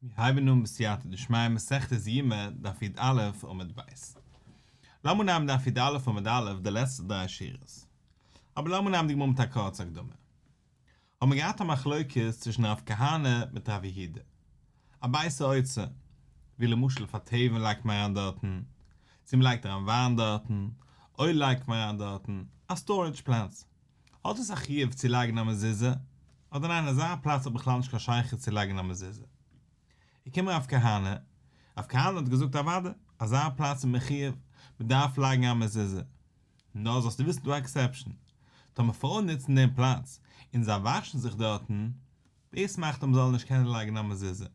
מיר הייבן אן בסייעתא דשמיא מסכת יומא דף יד א עמוד ב'. לאמיר נעמען דף יד א עמוד א די לעצטע דריי שורות. אבער לאמיר נעמען די גמרא מיט א קורצע הקדמה. האבן מיר געהאט א מחלוקת צווישן רב כהנא מיט רב יהודה. א בייסע אוצר. ווי למשל פאר טעבין לייגט מען אריין דארטן? צו מ'לייגט אריין וויין דארטן? אויל לייגט מען אריין דארטן? א סטארעדזש פלענטס. האט עס א חיוב צו לייגן א מזוזה? אדער ניין אזא פלאץ האט בכלל נישט קיין שייכות צו לייגן א מזוזה? איך קום הרב כהנא, הרב כהנא האט געזאגט אוודאי, אזא פלאץ איז מחיוב, מען דארף לייגן א מזוזה. נאר זאלסטו וויסן דא עקסעפשן, טאמער פרויען נוצן דעם פלאץ און זיי וואשן זיך דארטן, דאס מאכט אים זאלן נישט קענען לייגן א מזוזה.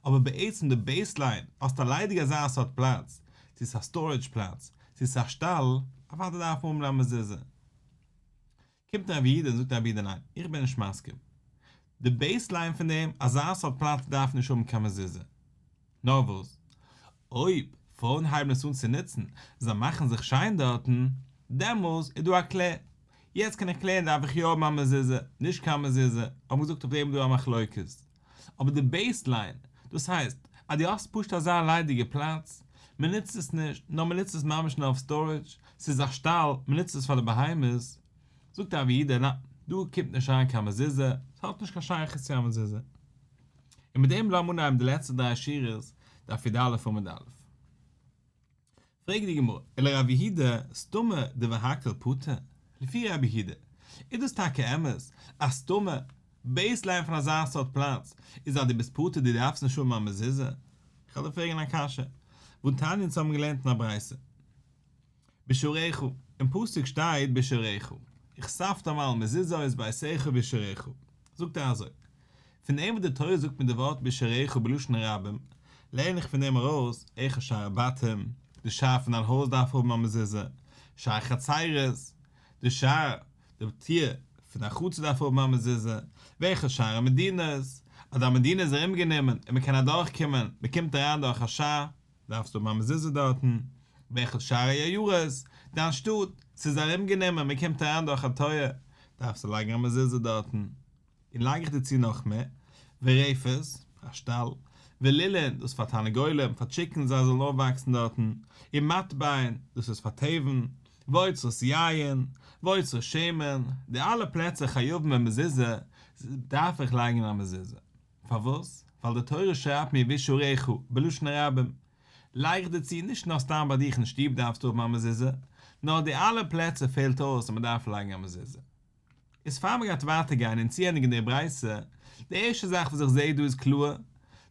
אבער בעצם די בעיס ליין, האסט א ליידיג אזא סארט פלאץ, צו ס'איז א סטארעדזש פלאץ, צו ס'איז א שטאל, אוודאי דארף מען האבן א מזוזה. קומט רבי איד און זאגט רבי איד ניין, איך בין נישט מסכים. די בעיס ליין פון דעם, אזא סארט פלאץ דארף נישט האבן קיין מזוזה. נאר וואס? אויב פרויען הייבן עס אן צו נוצן, זיי מאכן זיך שיין דארטן, דעמאלס איז דא א קלער. יעצט קען איך קלערן דארף איך יא האבן א מזוזה, נישט קיין מזוזה, האבן געזאגט אויף דעם איז דא א מחלוקת. אבער די בעיס ליין, דאס הייסט אז דו האסט פשוט אזא ליידיגע פלאץ, מען נוצט עס נישט, נאר מען נוצט עס ממש נאר אויף סטארעדזש, ס'איז א שטאל, מען נוצט עס פאר די בהמות, זאגט אבי אידא, נעה, דא קומט נישט אריין קיין מזוזה, ס'האט נישט קיין שייכות צו א מזוזה. און מיט דעם לאמיר אנהייבן די לעצטע דריי שורות דף י ד עמוד א. פרעגט די גמרא, אלא רב יהודה סתמא דבהקל פוטר, לפי רב יהודה איז דאס טאקע אמת אז סתמא, בעיס ליין פון אזא סארט פלאץ, איז אז דו ביסט פטור דו דארפסט נישט האבן א מזוזה? איך וועל דיר פרעגן א קשיא, וואו טענה'ן צו האבן געלערנט אין א ברייתא. בשעריך, אין פסוק שטייט בשעריך, איך סאפט אמאל מזוזות בעשיך בשעריך, זאגט ער אזוי, פון דעם וואס די תורה זאגט מיט די ווארט בשעריך בלשון רבים, לערן איך פון דעם ארויס, איך שער בתים, די שער פון דיין הויז דארף האבן א מזוזה, שער חצרות, די שער, די טיר, פון דיין חצר דארף האבן א מזוזה, וועלכע שער המדינות, אז א מדינה איז ארומגענומען און מען קען אדורכקומען, מען קומט אריין דורך א שער. דארפסט האבן א מזוזה דארטן, באחד שערי היוהרז, דיין שטאט, ס'איז ארום גענומען, מען קומט אריין דורך א טויער, דארפסטו לייגן א מזוזה דארטן. און לייג איך דיר צו נאך מער, ורעפות, א שטאל, ולילין, דאס פאר תרנגולים, פאר טשיקנס זיי זאלן אויפוואקסן דארטן, און מטבעין, דאס איז פאר טעווען, ואוצרות יין, ואוצרות שמן, די אלע פלעצער חייבים אין מזוזה, דארף איך לייגן א מזוזה. פארוואס? ווייל די תורה שרייבט מיר וישעריך בלשון הרבים. לייג איך דערצו, נישט נאר סתם ביי דיך אין שטוב דארפסטו האבן א מזוזה, נאר אויף די אלע פלעצער פעלט אויס אז מען דארף לייגן א מזוזה. איז פאר מען גייט ווייטער גיין און צוענדיגן די ברייתא, די ערשטע זאך וואס איך זע דא איז קלאר,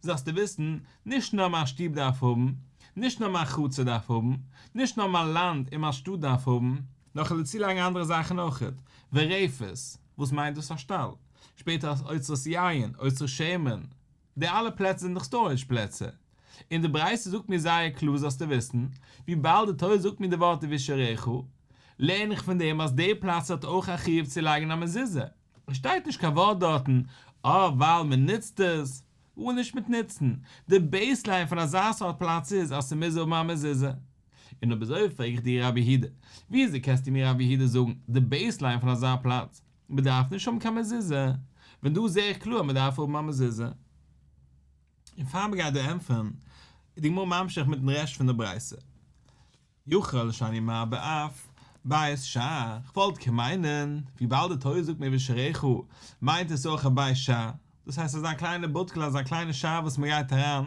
זאלסטו וויסן, נישט נאר מיין שטוב דארף האבן, נישט נאר מיין חצר דארף האבן, נישט נאר מיין לאנד און מיין שטאט דארף האבן, נאך און דערצולייגן אנדערע זאכן אויכעט, ווי רעפעס, וואס מיינט דאס א שטאל, שפעטער אז אוצרות יין, אוצרות שמן, די אלע פלעצער זענען דאך סטארעדזש פלעצער, און די ברייתא זאגט מיר זייער קלאר זאלסטו וויסן, וויבאלד די תורה זאגט מיר די ווארט ווישערעכו, לערן איך פון דעם אז די פלאץ האט אויך א חיוב צו לייגן א מזוזה. שטייט נישט קיין ווארט דארטן אה ווייל מען נוצט עס, גאר נישט מיט נוצן, די בעיסליין פון אזא סארט פלאץ איז אז ס'מוז האבן א מזוזה. און אויב אזוי פרעג איך דיר רבי הידע, וויאזוי קענסטו מיר רבי הידע זאגן די בעיסליין פון אזא פלאץ מ'דארף נישט האבן קיין מזוזה, ווען דא זעה איך קלאר אז מ'דארף האבן א מזוזה. און פאר מ'גייט דא ענטפערן איז די גמרא ממשיך מיטן רעשט פון די ברייתא. יחל שאני מר באף בית ש, כ'וואלט כמיינען וויבאלד די תורה זאגט מבית שעריך מיינט עס אויך א בית ש, דאס הייסט אזא קליינע בודקל אזא קליינע שאף וואס מ'גייט אריין,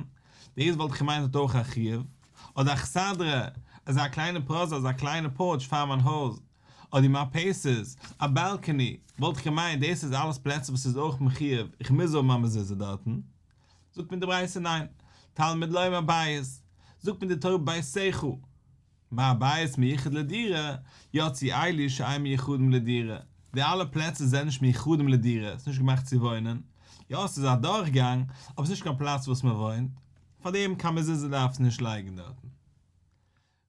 דאס וואלט איך געמיינט האט אויך א חיוב, אדער אכסדרה, אזא קליינע פראזע אזא קליינע פארטש פאר מיין הויז, אדער מארפעיסעס, א באלקעני, וואלט איך געמיינט דאס איז אלעס פלעצער וואס איז אויך מחיוב איך מוז האבן א מזוזה דארטן, זאגט מיר די ברייתא ניין, תלמוד לוי מהבית, זאגט מיר די תורה בית סעכו, מהבית מיוחד לדירה, יוצאי עילוי שאין מיוחדים לדירה, די אלע פלעצער זענען נישט מיוחדים לדירה, ס'איז נישט געמאכט צו וואוינען, יא ס'איז א דורכגאנג, אבער ס'איז נישט קיין פלאץ וואס מ'וואוינט, פארדעם קיין מזוזה דארף עס נישט לייגן דארטן.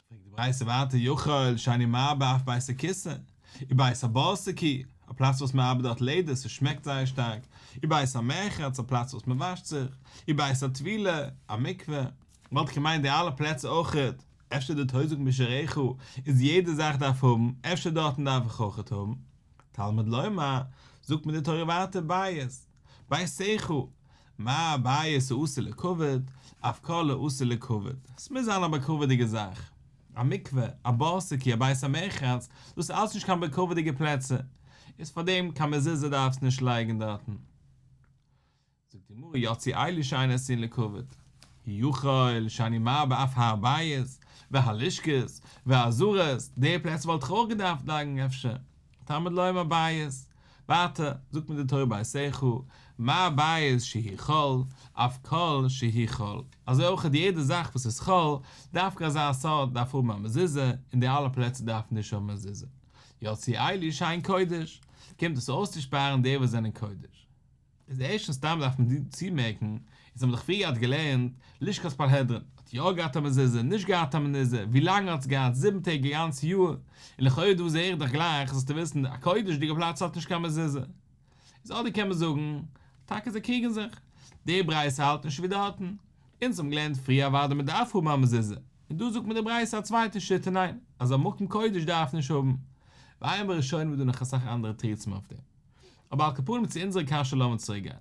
פרעגט די ברייתא ווייטער יכול שאני מעבה אף בית הכסא, ובית הבארסקי, א פלאץ וואס מען ארבעט דארט לעדער, ס'שמעקט זייער שטארק, ובית המרחץ, א פלאץ וואס מען וואשט זיך, ובית הטבילה, א מקווה, וואלט איך געמיינט די אלע פלעצער אויכעט, אפשר די תוזק משרעך איז יעדע זאך דארף האבן, אפשר דארטן דארף איך אויכעט האבן? תלמוד לומר, זאגט מיר די תורה ווייטער בית. בית איכה, מה הבית האסור לכבוד, אויף כל האסור לכבוד, עס מוז זיין א בכבוד'יגע זאך, א מקווה, א באסע קי, א בית המרחץ, דאס אלס נישט קיין בכבוד'יגע פלעצער, איז פארדעם קיין מזוזה דארפסט נישט לייגן דארטן. זאגט די גמרא יצי אלי שאין אסורין לכבוד, יכול שאני מרבה אויף הבית, והלשכות, והזרות, די פלעצער וואלט איך אויך געדארפט לייגן אפשר, תלמוד לומר בית, ווייטער זאגט מיר די תורה ביי סעכו מ א בית שהיא חול אויף כל שהיא חול, אזוי אויך האט יעדע זאך וואס איז חול, דווקא אזא סארט דארף האבן א מזוזה, און די אלע פלעצער דארפן נישט האבן מזוזה, יוצאי עלי שיין קודש, קומט דאס אויסצושפארן די וואס זענען קודש. איז ערשטנס סתם דארף מען דא צומערקן איז האבן דאך פריער געהאט געלערנט לשכת פארהעדרין האט יא געהאט א מזוזה נישט געהאט א מנוזה ווי לאנג האט עס געהאט זיבן טעג א גאנץ יאר און לכאורה דא איז ערך דאך גלייך זאלסטו וויסן א קודש'דיגע פלאץ האט נישט קיין מזוזה איז אדער קען מען זאגן טאקע זיי קריגן זיך די ברייתא האלט נישט ווי די האטן אונז האבן געלערנט פריער אוודאי מען דארף האבן א מזוזה און דא זאגט מיר די ברייתא א צווייטע שיטה ניין אז א מקום קודש דארף נישט האבן ועיין בראשונים איז דא נאך אסאך אנדערע תירוצים אויף דעם. אבער על כפנים צו אונזערע קשיא לאמיר צוריק גיין.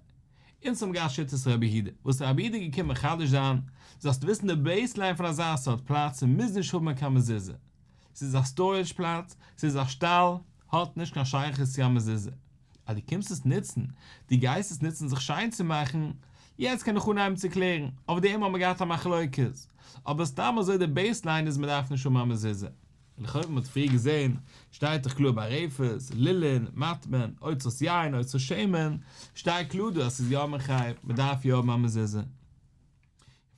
אונז האבן געהאט שיטת רבי יהודה, וואס איז רבי יהודה געקומען מחדש זיין? זאלסטו וויסן די בעיסליין פון אזא סארט פלאץ מוז נישט האבן קיין מזוזה. ס'איז א סטארעדזש פלאץ, ס'איז א שטאל, האט נישט קיין שייכות צו א מזוזה. אז דו קומסט עס נוצן, דו גייסט עס נוצן זיך שיין צו מאכן, יעצט קען איך אנהייבן צו קלערן, אויף דעם האבן מיר געהאט א מחלוקת. אבער סתם אזוי די בעיסליין איז מ'דארף נישט האבן א מזוזה. לכאו' ווי מ'האט פריער געזעהן שטייט דאך קלאר ביי רעפערס, לילין, מטמון, אוצרות יין, אוצרות שמן, שטייט קלאר דא אז ס'איז יא מחייב, מ'דארף יא האבן א מזוזה. און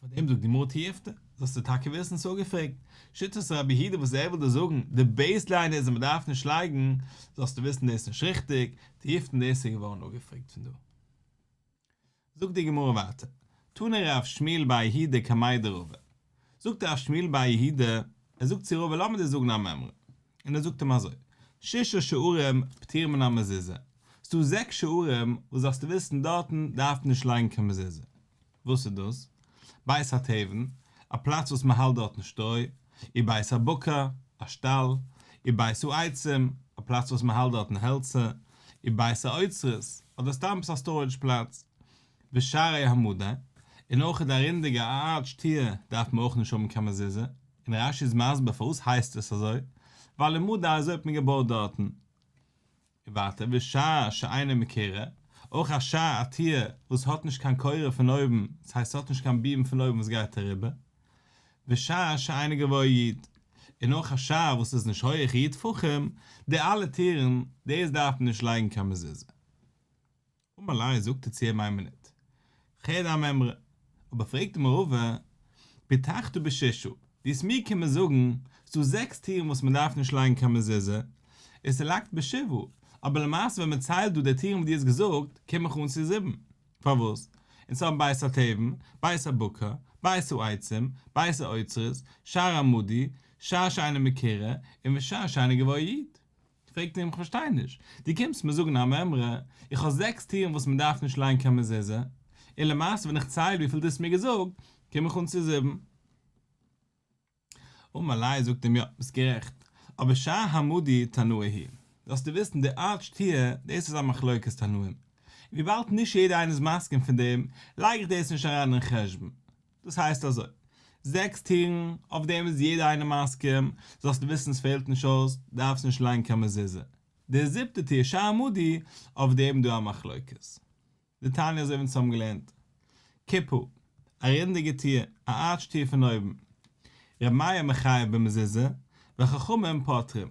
פאר דעם זאגט גמרא תיעפתא, זאלסטו טאקע וויסן איז אפגעפרעגט, שיטת רבי יהודה וואס ער וויל דא זאגן, די בעיס ליין איז אז מ'דארף נישט לייגן, זאלסטו וויסן דאס איז נישט ריכטיג, תיעפתא דאס איז געווארן אפגעפרעגט פון דא. זאגט די גמרא ווייטער, תנא רב שמואל בר יהודה קמאי דרבה, זאגט רב שמואל בר יהודה, ער זאגט צו רבה לאמיר דיר זאגן א מימרא, און ער זאגט אים אזוי, שישה שערים פטור מן המזוזה, ס'דא זעקס שערים וואס דארפסטו וויסן דארטן דארף מען נישט לייגן קיין מזוזה, וואס איז דאס? בית התבן, א פלאץ וואס מ'האלט דארטן שטרוי, איר בית הבקר, א שטאל, איר בית העצים, א פלאץ וואס מ'האלט דארטן העלצער, איר בית האוצרות, אדער סתם א סטארעדזש פלאץ. ושערי המדה, און אויך די רונדיגע א ארטש טיר דארף מען אויך נישט האבן קיין מזוזה, און רשי איז מסביר פארוואס הייסט עס אזוי, ווייל אין מדה אזוי האט מען געבויט דארטן. און ווייטער ווי שא שאינה מכירה, אויך א שא א טיר וואס האט נישט קיין קורה פון אויבן, דאס הייסט ס'האט נישט קיין ביעם פון אויבן וואס גייט אריבער, ווי שא שאינה גבוה יד, און אויך א שא וואס איז נישט הויעך יד טפחים, די אלע טירן, דאס דארף מען נישט לייגן קיין מזוזה. אמר ליה, זאגט ער צו אים איין מינוט, חי די המימרא, אבער פרעגט אים רבא, פתחתא בשישא, וואס מיר קומען זאגן, ס'דא זעקס טירן וואס מען דארף נישט לייגן קיין מזוזה, און ס'לאגט בשבעה, אבער למעשה ווען מען ציילט דא די טירן וואס דו האסט געזאגט, קום איך אן צו זיבן, פארוואס? אונז האבן בית התבן, בית הבקר, בית העצים, בית האוצרות, שער עמודי, שער שאינו מקרה, און ושער שאינו גבוה יד. פרעגט אים, כ'פארשטיי נישט, דו קומסט מיר זאגן א מימרא, איך האב זעקס טירן וואס מען דארף נישט לייגן קיין מזוזה, און למעשה ווען איך צייל וויפיל דו האסט מיר געזאגט, קום איך אן צו זיבן. אמר ליה, זאגט אים, יא, ביסט גערעכט, אבער שע המודי תנאי הי', זאלסטו וויסן די ארט שטיה, דאס איז א מחלוקת תנאים, און וויבאלד נישט יעדער איינער איז מסכים פון דעם, לייג איך דאס נישט אריין אין חשבון. דאס הייסט אזוי, זעקס טירן, אויף דעם איז יעדער איינער מסכים, זאלסטו וויסן עס פעלט נישט אויס, דארפסט נישט לייגן קיין מזוזה. די זיבטע טיר, שער עמודי, אויף דעם איז דא א מחלוקת. די תניא אזוי ווי אונז האבן געלערנט. קופ ה, א רינדיגע טיר, א ארטש טיר פון אויבן. רבי מאיר מחייב במזוזה, וחכמים פוטרים.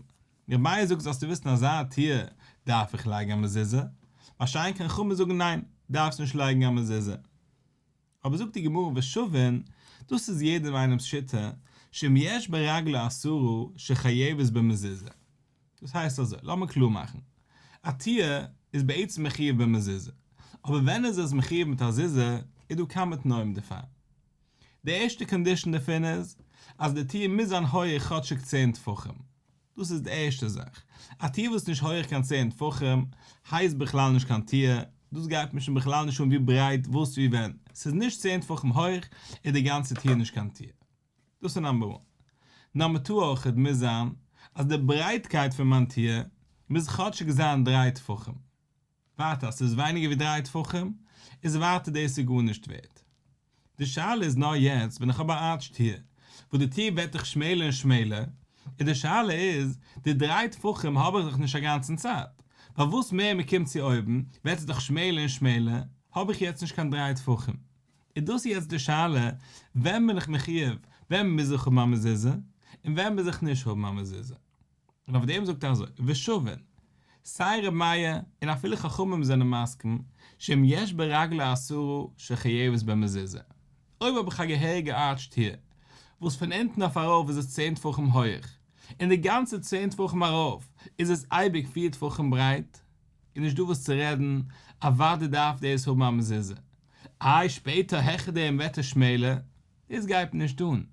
רבי מאיר זאגט זאלסטו וויסן אזא טיר דארף איך לייגן א מזוזה, מה שאין כן חכמים זאגן ניין, דארפסט נישט לייגן א מזוזה. אבער זאגט די גמרא ושווין, דאס איז יעדעם איינעמס שיטה, שאם יש ברגלו אסורו שחייבת במזוזה. דאס הייסט אזוי, לאמיר קלאר מאכן, א טיהר איז בעצם מחיוב במזוזה, אבער ווען איז עס מחיוב מיט א זיזה, איז דא כמה תנאים דערפאר. די ערשטע קאנדישאן דערפון איז, אז די טיהר מוז זיין הויעך כאטשיג צען טפחים. דאס איז די ערשטע זאך. א טיר וואס איז נישט הויעך קיין צען טפחים, הייסט בכלל נישט קיין טיר, דאס גייט מיר שוין בכלל נישט אן ווי ברייט וואס ווי ווען, ס'איז נישט צען טפחים הויעך איז די גאנצע טיר נישט קיין טיר. דאס איז נאמבער וואן. נאמבער טו אויכעט מוז זיין אז די ברייטקייט פון מיין טיר מוז כאטשיג זיין דריי טפחים. ווייטער אז ס'איז ווייניגער ווי דריי טפחים איז ווייטער דאס איז גארנישט ווערט. די שאלה איז נאר יעצט ווען איך האב א ארטש טיר וואס די טיר ווערט דאך שמעלער און שמעלער איז די שאלה איז די דריי טפחים האב איך דאך נישט אגאנצן צייט ווייל וואס מער מ'קומט צו אויבן ווערט עס דאך שמעלער און שמעלער האב איך יעצט נישט קיין דריי טפחים איז דאס איז יעצט די שאלה ווען בין איך מחיוב ווען מוז איך האבן א מזוזה און ווען מוז איך נישט האבן א מזוזה. און אויף דעם זאגט ער אזוי, ושווין, סיי ר' מאיר און אפילו חכמים זענען מסכים, שאם יש ברגלו אסורו שחייבת במזוזה, אויב האב איך א געהעריגע ארטש טיר, וואס פון אונטן אויף ארויף איז עס צען טפחים הויעך, און די גאנצע צען טפחים ארויף איז עס אייביג פיר טפחים ברייט, איז נישט דא וואס צו רעדן, אוודאי דארף דאס האבן א מזוזה, איי שפעטער העכער דעם וועט עס שמעלער עס גייט מיר נישט אן.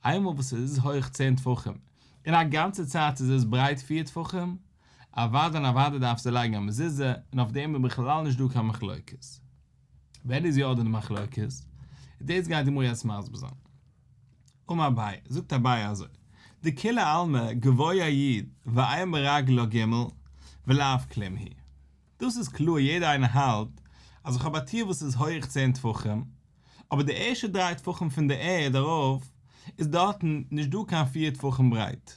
איינמאל וואס עס איז הויך צען טפחים, און א גאנצע צייט איז עס ברייט פיר טפחים, אוודאי און אוודאי דארפסטו לייגן א מזוזה, און אויף דעם איז בכלל נישט דא קיין מחלוקת. ווער איז יא דא די מחלוקת? איז דאס גייט די גמרא יעצט מסביר זיין. אמר אביי, זאגט אביי אזוי, דכולי עלמא גבוה א יוד ואיה מרגלא ג' ולאו כלים היא. דאס איז קלאר יעדער איינער האלט אז איך האב א טיר וואס איז הויך צען טפחים, אבער די ערשטע דריי טפחים פון די ערד ארויף איז דארטן נישט דא קיין פיר טפחים ברייט,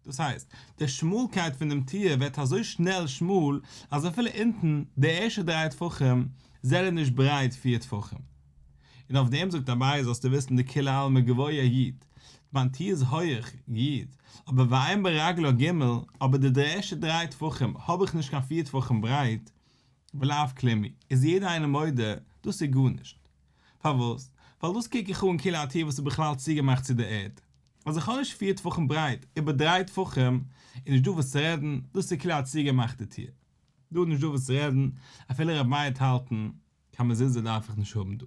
דאס הייסט די שמאלקייט פון דעם טיר ווערט אזוי שנעל שמאל אז אפילו אונטן די ערשטע דריי טפחים זענען נישט ברייט פיר טפחים. און אויף דעם זאגט אביי זאלסטו וויסן די כולי עלמא גבוה י, מיין טיר איז הויעך י, אבער ואין ברגלא ג, אבער די ערשטע דריי טפחים האב איך נישט קיין פיר טפחים ברייט, ולאו כלימי איז יעדער איינער מודה דאס איז גארנישט. פארוואס? ווייל דאס קוק איך אן כאילו א טיר וואס איז בכלל צוגעמאכט צו דער ערד. ווייל זיך כאניש פיר טפחים ברייט, איבער דריי טפחים, איז נישטא וואס צו רעדן, דאס איז כאילו א צוגעמאכטע טיר. דא איז נישטא וואס צו רעדן, אפילו רב מייערט האלטן, קיין מזוזה דארף איך נישט האבן דא.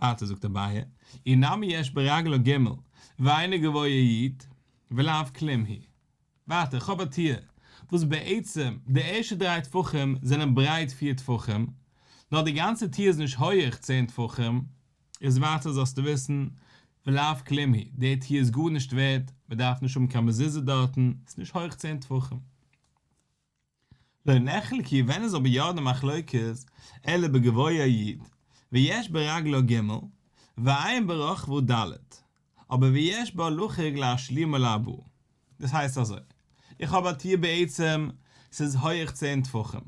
ווייטער זאגט אביי, אי נמי יש ברגלא ג', ואין איז גבוה איד, ולאו כלים היא. ווייטער, כ'האב א תיאור, וואס בעצם, די ערשטע דריי טפחים זענען ברייט פיר טפחים, נאר די גאנצע תיאור איז נישט הויעך צען טפחים, איז ווייטער זאלסטו וויסן, ולאו כלים היא, דער תיאור איז גארנישט ווערד, מ'דארף נישט האבן קיין מזוזה דארטן, ס'נישט הויעך צען טפחים. לא נחלקי ווען איז אבער יא די מחלוקת אלא בגבוה י ויש ברגלא ג ועיין ברחבו ד אבער ויש בהלכה ג להשלימו לאבאו דאס הייסט אזוי איך האב א טיר בעצם ס'איז הויעך צען טפחים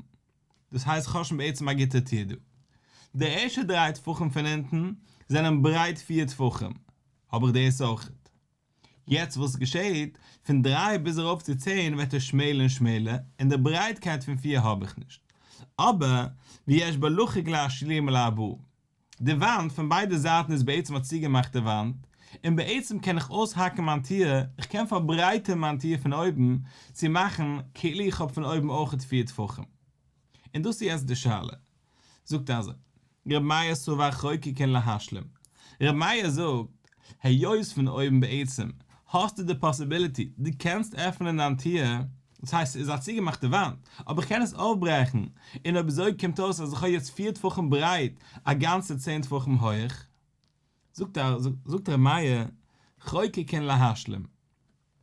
דאס הייסט כ'האב שוין בעצם א גוטע טיר דא די ערשטע דריי טפחים פון אונטן זענען ברייט פיר טפחים האב איך דאס אויכעט. יעצט וואס געשעהט? פון דריי ביז ארויף צו צען ווערט ער שמעלער און שמעלער, און די ברייטקייט פון פיר האב איך נישט. אבער, ויש בה לחק להשלים ולעבור. די וואנט פון ביידע זייטן איז בעצם א צוגעמאכטע וואנט, און בעצם קען איך אויסהאקן מיין טיר, איך קען פארברייטערן מיין טיר פון אויבן, צו מאכן כאילו איך האב פון אויבן אויכעט פיר טפחים. און דאס איז יעצט די שאלה, זאגט אזוי, ר' מאיר סובאך חוקקן להשלים, ר' מאיר זאגט, היות פון אויבן בעצם האסטו די פאסיביליטי, דו קענסט עפענען דיין טיר, דאס הייסט ס'איז א צוגעמאכטע וואנט, אבער איך קען עס אויפברעכן, און אויב אזוי קומט אויס אז איך האב יעצט פיר טפחים ברייט, א גאנצע צען טפחים הויך. זאגט ר' מאיר, חוקקן להשלים.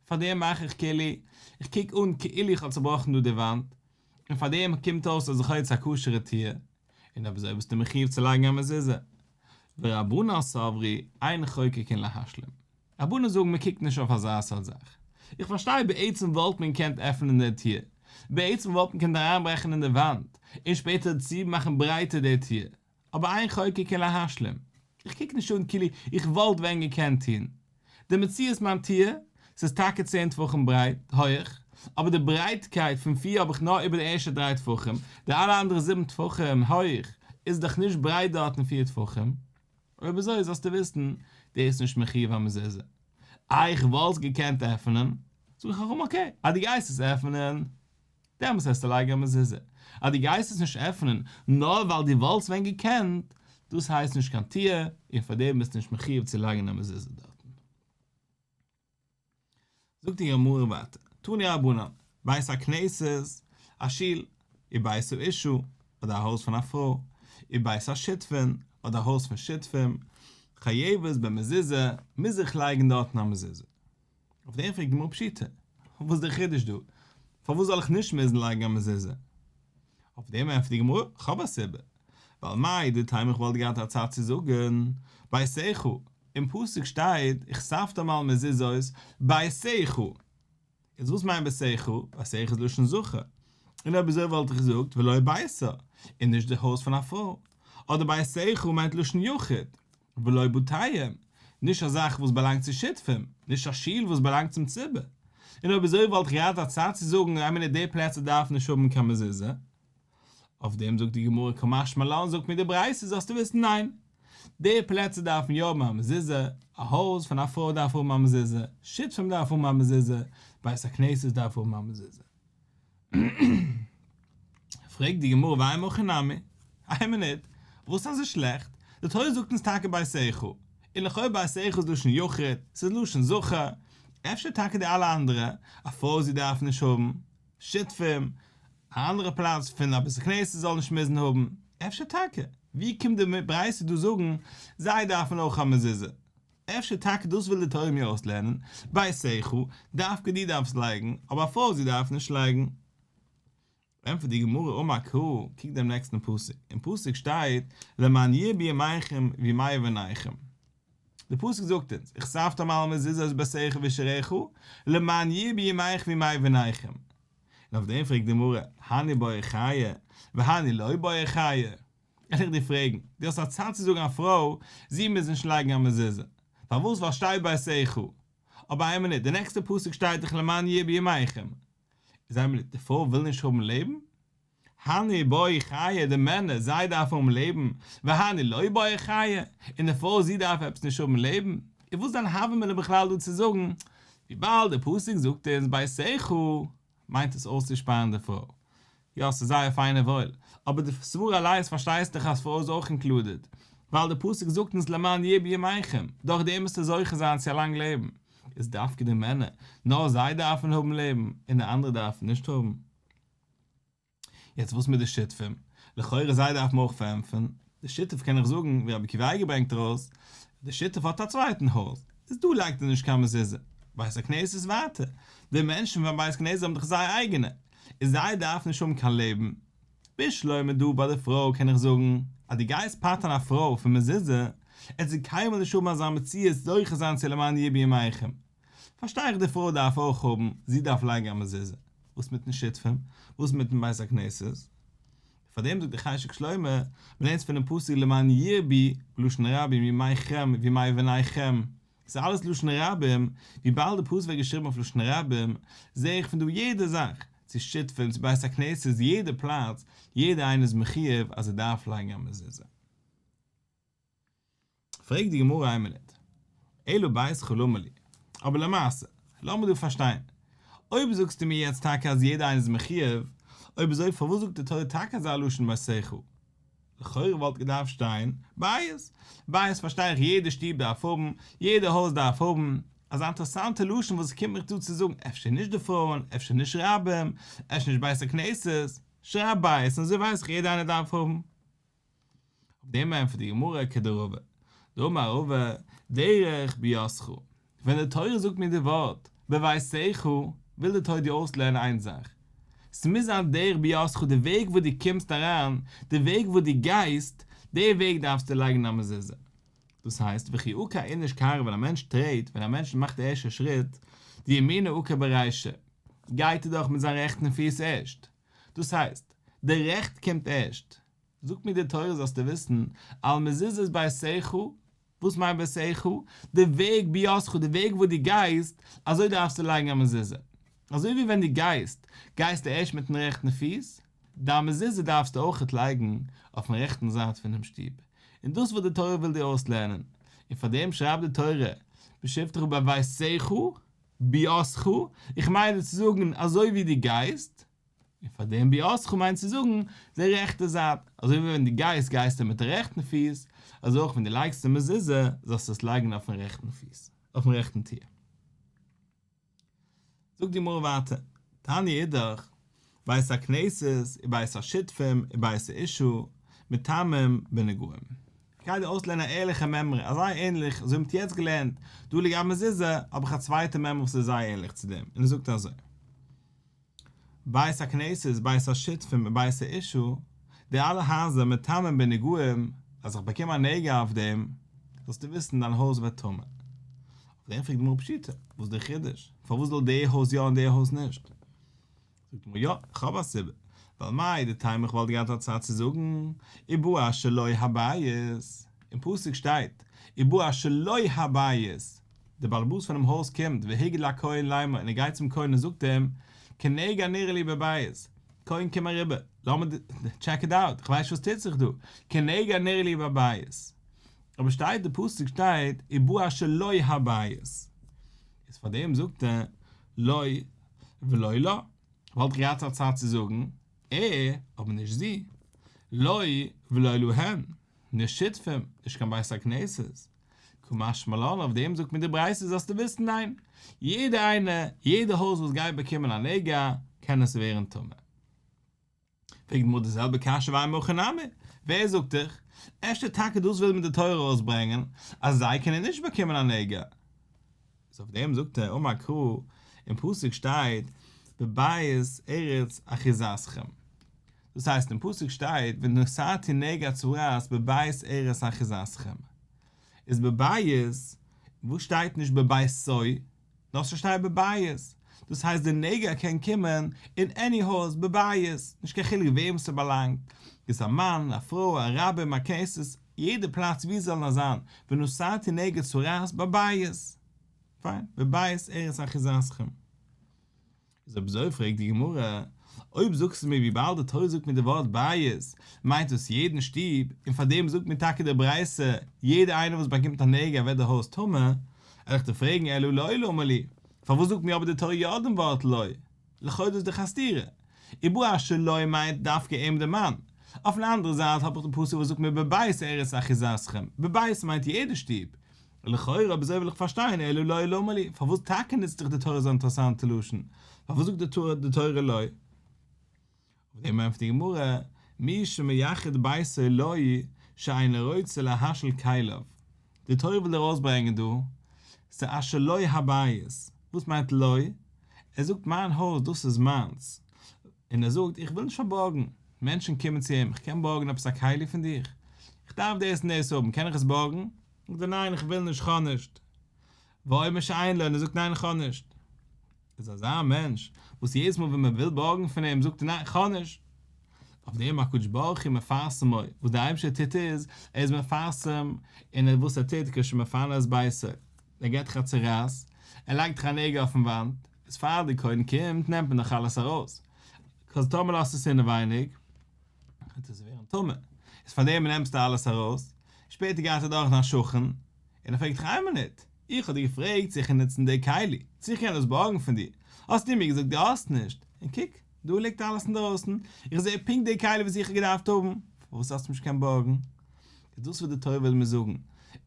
פאר דעם מאך איך כלי, איך קוק אן כאילו איך האב צובראכן דא די וואנט, און פאר דעם קומט אויס אז איך האב יעצט א כשר'ע טיר, און אויב אזוי ביסטו מחיוב צו לייגן א מזוזה. ורבנן סברי, אין חוקקין להשלים. רבנן זאגן מען קוקט נישט אויף אזא סארט זאך. איך פארשטיי בעצם וואלט מען געקענט עפענען די טיר, בעצם וואלט מען געקענט אריינברעכן אין די וואנט, און שפעטער צומאכן ברייטער די טיר, אבער איין חוקק אין להשלים, איך קוק נישט אן כאילו איך וואלט ווען געקענט טון די מציאות מיין טיער, ס'איז טאקע צען טפחים ברייט, הויעך, אבער די ברייטקייט פון פיר האב איך נאר איבער די ערשטע דריי טפחים, די אלע אנדערע זיבן טפחים הויעך איז דאך נישט ברייט דארטן פיר טפחים, אויב אזוי זאלסטו וויסן דאס נישט מחיוב א מזוזה, איי איך וואלסט געקענט עפענען? זאג איך ארום אקעי אז די גייסט עס עפענען. דעמאלס העסטו לייגן א מזוזה. אז דו גייסט עס נישט עפענען נאר ווייל דו וואלטסט ווען געקענט, דאס הייסט נישט קיין תיעה, און פאר דעם ביסטו נישט מחיוב צו לייגן א מזוזה דארטן. זאגט די גמרא ווייטער, תני רבנן, בית הכנסת, א שול, ובית האישה, אדער א הויז פון א פרוי, ובית השותפין, אדער א הויז פון שותפים, חייבת במזוזה, מוז איך לייגן דארטן א מזוזה. אויף דעם פרעגט גמרא פשיטא, וואס איז דער חידוש דא? פארוואס זאל איך נישט מוזן לייגן א מזוזה? אויף דעם ענטפערט די גמרא, כ'האב א סיבה, ווייל מאי דטעמא איך וואלט געהאט א צד צו זאגן, בעשיך, אין פסוק שטייט, איך ספד אמאל מזוזות בעשיך, איז וואס מיינט בעשיך? בעשיך איז לשון זכר, און אויב אזוי וואלט איך געזאגט ולא בעשה, און נישט די הויז פון א פרוי, אדער בעשיך מיינט לשון יחיד, ולא בתיהם, נישט א זאך וואס באלאנגט צו שותפים, נישט א שול וואס באלאנגט צום ציבור, און אויב אזוי וואלט איך געהאט א צד צו זאגן אז אמינא די פלעצער דארפן נישט האבן קיין מזוזה? אויף דעם זאגט די גמרא כמשמע לן זאגט מיר די ברייתא זאלסטו וויסן ניין! די פלעצער דארפן יא האבן א מזוזה, א הויז פון א פרוי דארף האבן א מזוזה, שותפים דארפן האבן א מזוזה, בית הכנסת דארף האבן א מזוזה. פרעגט די גמרא ואינו הכי נמי, איין מינוט, וואס אזוי שלעכט? די תורה זאגט אונז טאקע בית איכה, און לכאו' בית איכה איז לשון יחיד, ס'איז לשון זכר, אפשר טאקע די אלע אנדערע, א פוירזי דארף נישט האבן, שותפים, א אנדערע פלאץ פון א בית הכנסת זאל נישט מוזן האבן, אפשר טאקע, ווי קומט די ברייתא דא זאגן זיי דארפן אויך א מזוזה? אפשר טאקע דאס וויל די תורה מיר אויסלערנען, ביי שכל, דווקא דו דארפסט לייגן, אבער א פרוי זי דארף נישט לייגן. ענטפערט די גמרא אמה ק, קוק דעם נעקסטן פסוק, אין פסוק שטייט למען ירבו ימיכם וימי בניכם, די פסוק זאגט אונז וכספת מעל המזוזה אז ביי שכל ושריך הוא, למען ירבו ימיך וימי בניכם, און אויף דעם פרעגט די גמרא, הני באי חיה, והני לא באי חיה. וויל איך דיר פרעגן, דו האסט א צד צו זאגן א פרוי זי מוז נישט לייגן א מזוזה, פארוואס ווייל שטייט ביי עשה איכה, אבער איין מינוט, די נעקסטע פסוק שטייט דאך למען יהיה בימיכם, איז איין מינוט, די פרוי וויל נישט האבן לעבן? הני בוי חיה, די מענער זיי דארפן האבן לעבן, והני לא בוי חיה, און די פרוי זי דארף עפעס נישט האבן לעבן, איז וואס דיין הווה אמינא בכלל דא צו זאגן, וויבאלד די פסוק זאגט אונז ביי עשה איכה. מיינט עס אויסצושפארן די פרוי. יא ס'איז זייער פיין און וואויל, אבער די סברא אליינס פארשטייסט דאך אז פרוי איז אויך אינקלודעד, ווייל די פסוק זאגט אונז למען ירבו ימיכם, דורך דעם וועסטו זוכה זיין צו א לאנג לעבן, איז דווקא די מענער, נאר זיי דארפן האבן לעבן, און די אנדערע דארפן נישט האבן? יעצט וואס מיט די שותפים? לכאורה זיי דארף מען אויך פארענטפערן, די שותף קען נאך זאגן ווי רבי עקיבא אייגער ברענגט ארויס, די שותף האט א צווייטן הויז, איז דא לייגט ער נישט קיין מזוזה, בית הכנסת איז ווייטער, די מענטשן פון בית הכנסת האבן דאך זייער אייגענע, און זיי דארפן נישט האבן קיין לעבן. בשלמא דא ביי די פרוי קען איך זאגן, אז דו גייסט פטר'ן א פרוי פון מזוזה, עט זי קיינמאל נישט האבן אזא מציאות זוכה זיין צו למען ירבי עמכם, פארשטיי איך די פרוי דארף אויך האבן, זי דארף לייגן א מזוזה, וואס מיטן שותפים, וואס מיטן בית הכנסת, פאר דעם זאגט דער חשק שלמה, מ'לערנט פונעם פסוק למען ירבי, בלשון רבים, ימיכם וימיבניכם, ס'איז אלעס לשון רבים, וויבאלד די פסוק ווערט געשריבן אויף לשון רבים, זע איך פון דא יעדע זאך, צו שותפים, צו בית הכנסת, יעדע פלאץ, יעדע איינער איז מחיוב אז ער דארף לייגן א מזוזה. פרעגט די גמרא איין מינוט, אלו בית חלומא לי, אבער למעשה, לאמיר דא פארשטיין, אויב זאגסטו מיר יעצט טאקע אז יעדער איינער איז מחיוב, אויב אזוי פארוואס זאגט די תורה טאקע אזא לשון ביי שיחו? לכאורה וואלט געדארפט שטיין, בית, בית פארשטיי איך יעדע שטוב דארף האבן, יעדע הויז דארף האבן, אזא אינטערעסאנטע לשון וואס קומט מיך דא צו זאגן אפשר נישט די פרויען, אפשר נישט רבים, אפשר נישט בית הכנסת, שרייב בית און אזוי ווייס איך יעדע איינער דארף האבן. אויף דעם ענטפערט די גמרא כדרבה, דאמר רבא, דרך ביאסכו, ווען די תורה זאגט מיר די ווארט בביאסעכו, וויל די תורה דיר אויסלערנען איין זאך, ס'מוז זיין דרך ביאסכו, די וועג וואס דו קומסט אריין, די וועג וואס דו גייסט, די וועג דארפסטו לייגן א מזוזה. דאס הייסט, וכי עקא איניש קרא ווען א מענטש טרעט, ווען א מענטש מאכט די ערשטע שריט, דימינא עקא ברישא, גייט ער דאך מיט זיין רעכטן פיס ערשט, דאס הייסט, די רעכט קומט ערשט. זאגט מיר די תורה זאלסטו וויסן, על מזוזות בעשיך, וואס מיינט בעשיך? די וועג ביאסך, די וועג וואס דו גייסט, אזוי דארפסטו לייגן א מזוזה. אזוי ווי ווען דו גייסט, גייסטו ערשט מיט'ן רעכטן פיס, דיין מזוזה דארפסטו אויכעט לייגן אויפ'ן רעכטן זייט פונעם שטוב. און דאס וואס די תורה וויל דיר אויסלערנען. און פארדעם שרייבט די תורה, בשבתך ובעשיך. ביאסך, איך מיין דיר צו זאגן אזוי ווי דו גייסט, און פאר דעם ביאסך מיינט צו זאגן די רעכטע זייט, אזוי ווי ווען דו גייסט גייסטו מיט די רעכטן פיס, אזוי אויך ווען דו לייגסט די מזוזה זאלסטו עס לייגן אויפן רעכטן פיס, אויפן רעכטן טיר. זאגט די גמרא ווייטער, תני אידך, בית הכנסת און בית השותפים און בית האישו מטעמים ונגעים. כדי אויסצולערנען א ערליכע מעמרי אז זייער ענליך אזוי ווי מ'האט יעצט געלערנט דא לגבי מזוזה האב איך א צווייטע מעמרי וואס איז זייער ענליך צו דעם און עס זאגט אזוי בית הכנסת בית השותפים און בית האישו די אלע הייזער מטעמים ונגעים אז איך באקום א נגע אויף דעם זאלסטו וויסן דיין הויז ווערט טמא אויף דעם פרעגט די גמרא פשיטא וואס איז די חידוש פארוואס זאל די הויז יא און די הויז נישט? זאגט אים ער, יא, איך האב א סיבה, ווייל מאי דטעמא איך וואלט געהאט א צד צו זאגן, ובו אשר לא יהא בית, אין פסוק שטייט, ובו אשר לא יהא בית, דער בעל הבית פונעם הויז קומט, והיגד לכהן לאמור, און ער גייט צום כהן און זאגט אים, כנהוג הנראה לי בבית, כהן קום אריבער, לאמיר טשעק איט אוט, איך ווייס נישט וואס טוט זיך דא, כנהוג הנראה לי בבית, אבער שטייט די פסוק שטייט, ובו אשר לא יהא בית, איז פארדעם זאגט ער, לא. ולא לה, וואלט איך געהאט א צד צו זאגן, ע, אבער נישט זי. לא היא ולא לו הן, נישט שותפים, נישט קיין בית הכנסת. כמשמע לן אויף דעם זאגט מיר די ברייתא זאלסטו וויסן ניין, יעדער איינער, יעדער הויז וואס גייט באקומען א נגע, קען עס ווערן טמא. פרעגט די גמרא די זעלבע קשיא והאי מיכי נמי, ווער זאגט דיך? אפשר טאקע דאס וויל מיר די תורה ארויסברענגען אז זיי קענען נישט באקומען א נגע? איז אויף דעם זאגט ער אמר קרא, אין פסוק שטייט בבית ארץ אחיזתכם, דאס הייסט אין פסוק שטייט ונשאתי נגע צרעת בבית ארץ אחיזתכם, איז בבית, וואס שטייט נישט בבית סוי? דארפסט פארשטיין בבית, דאס הייסט די נגע קען קומען אין עני הויז בבית, נישט קיין חילוק וועם ס'באלאנגט, איז א מאן, א פרוי, א רבי, מארקעסעס, יעדע פלאץ ווי זאל נאר זיין, ונשאתי נגע צרעת בבית, פיין, בבית ארץ אחיזתכם. איז אויב אזוי פרעגט די גמרא, אויב זאגסטו מיר וויבאלד די תורה זאגט מיר די ווארט בית מיינט דאס יעדן שטוב, און פארדעם זאגט מיר טאקע די ברייתא יעדער איינער וואס באקומט א נגע ווערט די הויז טמא, וועל איך דיר פרעגן אלא לוי למה לי, פארוואס זאגט מיר אבער די תורה יא דעם ווארט לוי? לכאו' דאס איז דאך א סתירה, ובו אשר לוי מיינט דווקא אים דעם מאן. אויפן אנדערע זייט האב איך די פסוק וואס זאגט מיר בבית ארץ אחיזתכם, בבית מיינט יעדע שטוב, לכאורה אבער אזוי וויל איך פארשטיין אלא לאי למה לי, פארוואס טאקע נוצט זיך די תורה אזא אינטערעסאנטע לשון? פארוואס זאגט די תורה לאי? אויף דעם ענטפערט די גמרא, מי שמייחד ביתו לאי שאינו רוצה להשל כליו, די תורה וויל ארויסברענגען דא ס'איז א שלא הבית, וואס מיינט לאי? ער זאגט מיין הויז דאס איז מיינס, און ער זאגט איך וויל נישט פארבארגן, מענטשן קומען צו אים איך קען בארגן עפעס א כלי פון דיר? איך דארף דאס און דאס האבן, קען איך עס בארגן? זאגט ער ניין כ'וויל נישט כאנישט, וואויל מיר שוין איינלאדן, ער זאגט ניין כאנישט, איז אזא מענטש וואס יעדעס מאל ווען מען וויל בארגן פון אים זאגט ער ניין כאנישט, אויף דעם הקדוש ברוך הוא מפרסמו, וואס דער אייבערשטער טוט איז, ער איז מפרסם אין וואס ער טוט, כש מפנה את בעשו, ער געבט דיך א צורייס, ער לייגט דיך א נעגל אויפן וואנט, איז פאר די קונים קומט נעמט מען דאך אלעס ארויס, כז טאמער לאזט עס אינעווייניג וועט עס ווערן טמא, איז פאר דעם נעמסטו אלעס ארויס, שפעטער גייט ער דורך דיין שכן און ער פרעגט דיך איין מינוט, איך האב דיר געפרעגט צו איך קען נוצן די כלי, צו איך קען דאס בארגן פון דיר, האסטו מיר געזאגט דו האסט נישט, און קוק, דא ליגט אלעס אינדרויסן, איך זע פונקט די כלי וואס איך האב געדארפט האבן, פארוואס האסטו נישט געקענט בארגן? איז דאס וואס די תורה וויל מיר זאגן,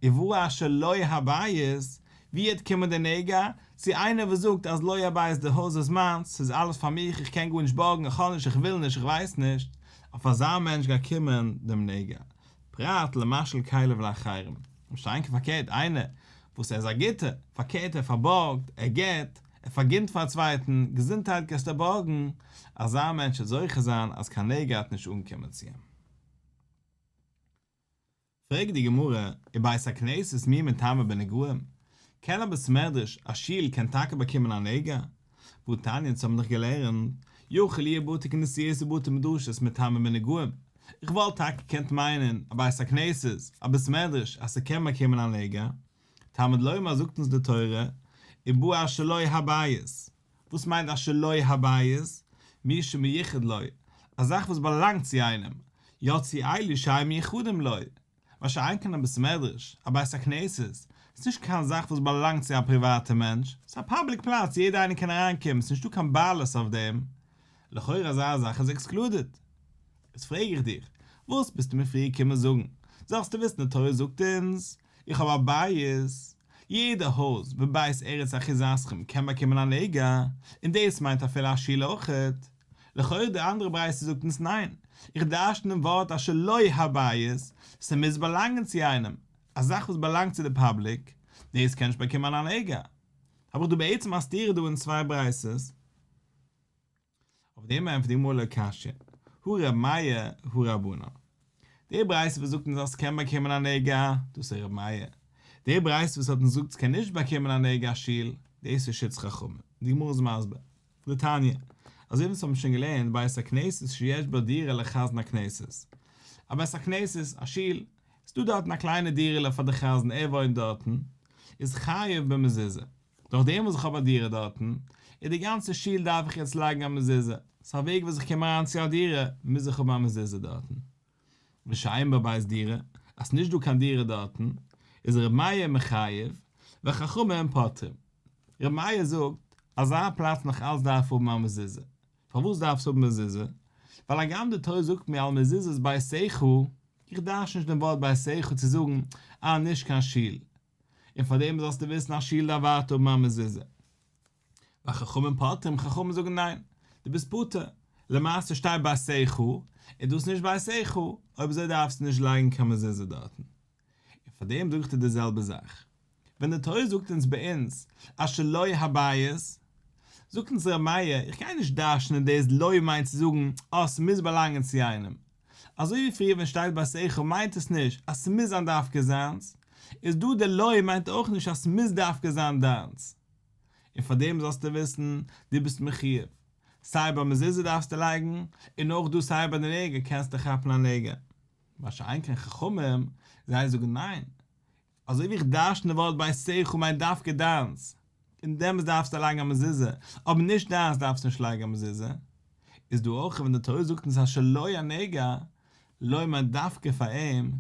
איוואו אשר לא הבית, ווי וועט קומען די נגע, צו איינער וואס זאגט אז לא הבית די הויז איז מיינס, ס'איז אלעס פאר מיך, איך קען גארנישט בארגן, איך האב נישט, איך וויל נישט, איך ווייס נישט, אויף אזא מענטש גייט קומען דעם נגע. פרט למשל כלב לאחרים, למשל ענקער פארקערט איינער וואס ער איז א גוטער, פארקערט ער פארבארגט, ער גיט, ער פארגינט פאר א צווייטן, געזונטהייט גייסטו בארגן, אזא מענטש וועט זוכה זיין אז קיין נגע האט נישט אנגעקומען צו אים. פרעגט די גמרא איז בית הכנסת מי מטמא בנגעים, קען א בית מדרש, א שול, קען טאקע באקומען א נגע, וואו תניא צו האבן דיך געלערנט, יוכי לי' בתי כנסיות ובתי מדרשות מטעמים ונגעים, איך וואלט טאקע געקענט מיינען א בית הכנסת, א בית מדרש, אז ס'קען באקומען א נגע, תלמוד לומר זאגט אונז די תורה, ובו אשר לו הבית, וואס מיינט אשר לו הבית? מי שמייחד לו, א זאך וואס באלאנגט צו איינעם, יוצאי אלי שהם ייחודים לו, באשיינקען אין א בית מדרש, א בית הכנסת, איז נישט קיין זאך וואס באלאנגט צו א פריוואטע מענטש, ס'איז א פאבליק פלאץ יעדער איינער קען אריין קומען ס'איז נישטא קיין בעלות אויף דעם, לכאורה אזא זאך איז עקסקלודעד. איז פרעג איך דיך, וואס ביסטו מיר פריער געקומען זאגן? זאלסטו וויסן די תורה זאגט אונז, איך האב א בית, יעדע הויז בבית ארץ אחיזתכם קען באקומען א נגע, און דאס מיינט אפילו א שול אויכעט, לכאורה די אנדערע ברייתא זאגט אונז ניין, איך דרשן דעם ווארט אז שלא הבית, ס'מוז באלאנגען צו איינעם, א זאך וואס באלאנגט צו די פאבליק, דאס קען נישט באקומען אן הנהגה, האב איך דא בעצם א סתירה דא אין צוויי ברייתות. אויף דעם ענטפערט די גמרא לא קשיא, הוא רב מאיר הוא רבנא, די ברייתא וואס זאגט אונז אז ס'קען באקומען אן הנהגה, דאס איז רב מאיר, די ברייתא וואס האט אונז געזאגט ס'קען נישט באקומען אן הנהגה, שיל, דאס איז שוץ חכמים, די גמרא איז מסביר. לתניא, אזוי ווי מיר האבן שוין געלערנט, בית הכנסת שיש בו דירה לחזן הכנסת. א בית הכנסת, א שול, איז דא דארטן א קליינע דירה'לע פאר די חזן, ער וואוינט דארטן, איז חייב במזוזה. דורך דעם וואס איך האב א דירה דארטן, איז די גאנצע שול דארף איך יעצט לייגן א מזוזה, סא א וועג וואס איך קום אריין צו א דירה, מוז איך האבן א מזוזה דארטן. ושאין בבית דירה, אז ס'נישט דא קיין דירה דארטן, איז ר' מאיר מחייב, והחכמים הם פותרים. ר' מאיר זאגט, אזא פלאץ נאך אלץ דארף האבן א מזוזה. פארוואס דארף עס האבן מזוזה? ווייל הגם די תורה זאגט מיר על מזוזות בית סעיךו, איך דארש נישט דעם ווארט בית סעיךו צו זאגן, אה, נישט קיין שול. און פארדעם זאלסטו וויסן אז שול דארף ווייטער האבן א מזוזה. ביי חכמים פוטרים, חכמים זאגן ניין, דו ביסט פטור, למעשה שטייט ביי ס ח, איז דאס נישט ביי ס ח, אויב אזוי דארפסטו נישט לייגן קיין מזוזה דארטן. און פאר דעם זאגסטו די זעלבע זאך. ווען די תורה זאגט אונז ביי אונז אז שלא הבית, זאגט אונז ר' מאיר, איך גיי נישט דרש'נען דאס לא מיינט צו זאגן אז ס'מוז באלאנגען צו איינעם. אזוי ווי פריער ווען ס'שטייט ביי ס ח מיינט עס נישט אז ס'מוז זיין דווקא זיינס, איז דא די לא מיינט אויך נישט אז ס'מוז דווקא זיין דיינס. און פאר דעם זאלסטו וויסן, דו ביסט מחיוב, סיי ביי מזוזה דארפסטו לייגן, און אויך דא סיי ביי די נגע קענסטו כאפן א נגע. מה שאין כן חכמים, זיי זאגן ניין, אזוי ווי איך דרשן די ווארט ביי סעיךו מיינט דווקא דיינס, און דעמאלס דארפסטו לייגן א מזוזה, אבער נישט דיינס דארפסט נישט לייגן א מזוזה, איז דא אויך ווען די תורה זאגט אונז אז שלא יהיה נגע, לא מיינט דווקא פאר אים,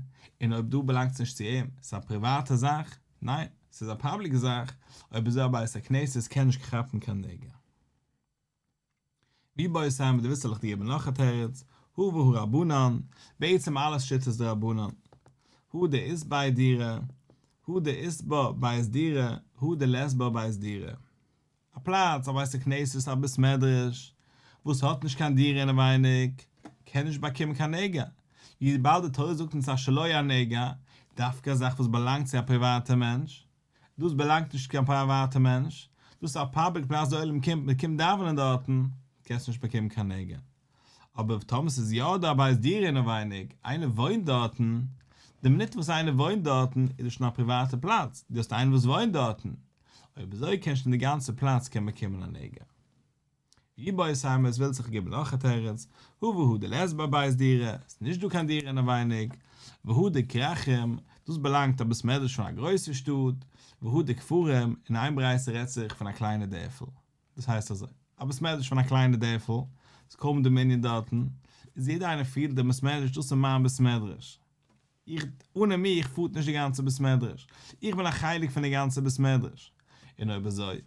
און אויב דא באלאנגט עס נישט צו אים, ס'איז א פריוואטע זאך, ניין, ס'איז א פאבליק זאך, אויב איז דא א בית הכנסת קען נישט כאפן קיין נגע. ווי בויעסט אהן מיט די וויסעלעך די געבן נאך א תירוץ, הא והא רבנן, בעצם אלעס שיטות דרבנן, הא ד איז ביי דירה, הא ד איז בה בית דירה, הא ד לעז בה בית דירה. א פלאץ, א בית הכנסת, א בית מדרש, וואס האט נישט קיין דירה אינעווייניג, קען נישט באקומען קיין נגע, וויבאלד די תורה זאגט אונז אז שלא יהיה נגע, דווקא א זאך וואס באלאנגט צו א פריוואטע מענטש, דאס באלאנגט נישט צו קיין פריוואטע מענטש, דאס איז א פאבליק פלאץ די עולם קומט, מען קומט דאווענען דארטן, קענסט נישט באקומען קיין נגע. אבער טאמער ס'איז יא דא א בית דירה אינעווייניג, איינער וואוינט דארטן, די מינוט וואס איינער וואוינט דארטן איז עס שוין א פריוואטע פלאץ, דו האסט איינעם וואס וואוינט דארטן, אויב אזוי קען שוין די גאנצע פלאץ קען באקומען א נגע. ווי בויערסהיימער עס וויל זיך געבן נאך א תירוץ, הא והא די לעסט ביי בית דירה, ס'איז נישט דא קיין דירה אינעווייניג, והא די כרכים, דאס באלאנגט א בית מדרש פון א גרויסע שטאט, והא די כפרים, אין איין ברייתא רעדט זיך פון א קליינע דערפל. דאס הייסט אזוי, א בית מדרש פון א קליינע דערפל, ס'איז קוים די מנין דארטן, איז יעדער איינער פירט דעם בית מדרש, דאס איז מיין בית מדרש, איך, אנע מיך פארט נישט די גאנצע בית מדרש, איך בין א חלק פון די גאנצע בית מדרש, און אויב אזוי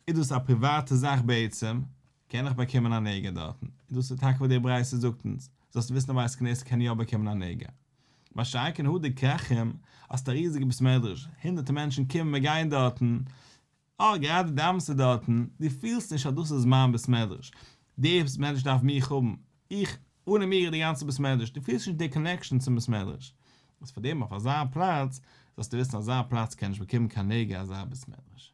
איז דאס א פריוואטע זאך בעצם, קען איך באקומען א נגע דארטן, און דאס איז טאקע וואס די ברייתא זאגט אונז, זאלסט וויסן א בית כנסת קען יא באקומען א נגע, מה שאין כן הוד כרחם, האסט א ריזיגע בית מדרש, הונדערטער מענטשן קומען און גייען דארטן, אה, גראדע די אמת'ע דארטן, דו פילסט נישט אז דאס איז מיין בית מדרש, דער בית מדרש דארף מיך האבן, איך, אנע מיר איז די גאנצע בית מדרש, דו פילסט נישט די קאנעקשאן צום בית מדרש, וואס פאר דעם אויף אזא פלאץ, זאלסטו וויסן אזא פלאץ קען נישט באקומען קיין נגע אזא בית מדרש.